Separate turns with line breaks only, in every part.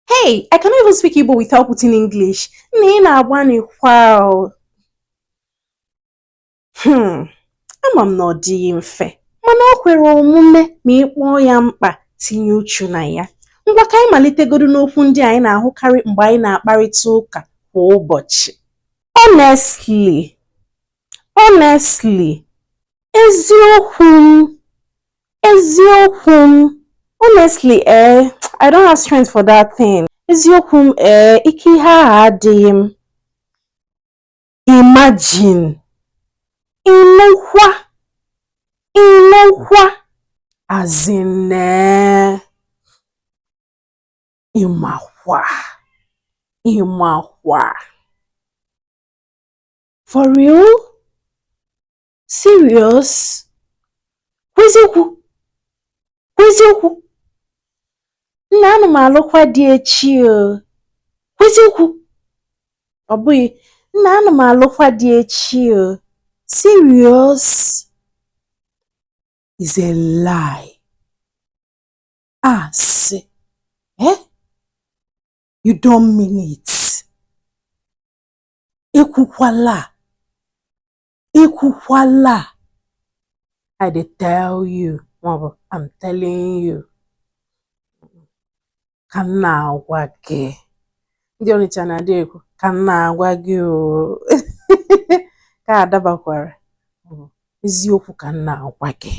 Hey, I cannot even speak Igbo without putting English. Nna ị na-agbanịkwa Hmm, ama m na ọ dịghị mfe, mana o kwere omume ma ị kpọọ ya mkpa tinye uchu na ya. Ngwa ka anyị malitegodu n'okwu ndị anyị na-ahụkarị mgbe anyị na-akparịta ụka kwa ụbọchị. Honestly, Honestly, eziokwu m, eziokwu m, honestly eh, I don't have strength for that thing. Eziokwu m eh, ike ihe ahụ adịghị m. Imagine, ịnụkwa, ịnụkwa, as in eh, ịmakwa, ịmakwa. For real? Serious? Kwuo eziokwu? Kwuo eziokwu? Nna ana m alụkwa di echi o. Kwuo eziokwu? Ọ bụghị, nna ana m alụkwa di echi o. Serious? Is a lie. Asị. Ah, eh? You don't mean it. ekwukwala ekwukwala I dey tell you maọbụ I'm telling you ka m na-agwa gị ndị Ọnịcha na-adị ekwu ka m na-agwa gị o ka adabakwara eziokwu ka m na-agwa gị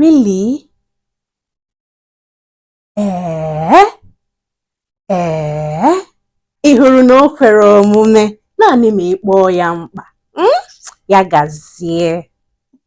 really ee ee ị hụrụ na o kwere omume naanị ma ị kpọọ ya mkpa hmm? ya gazie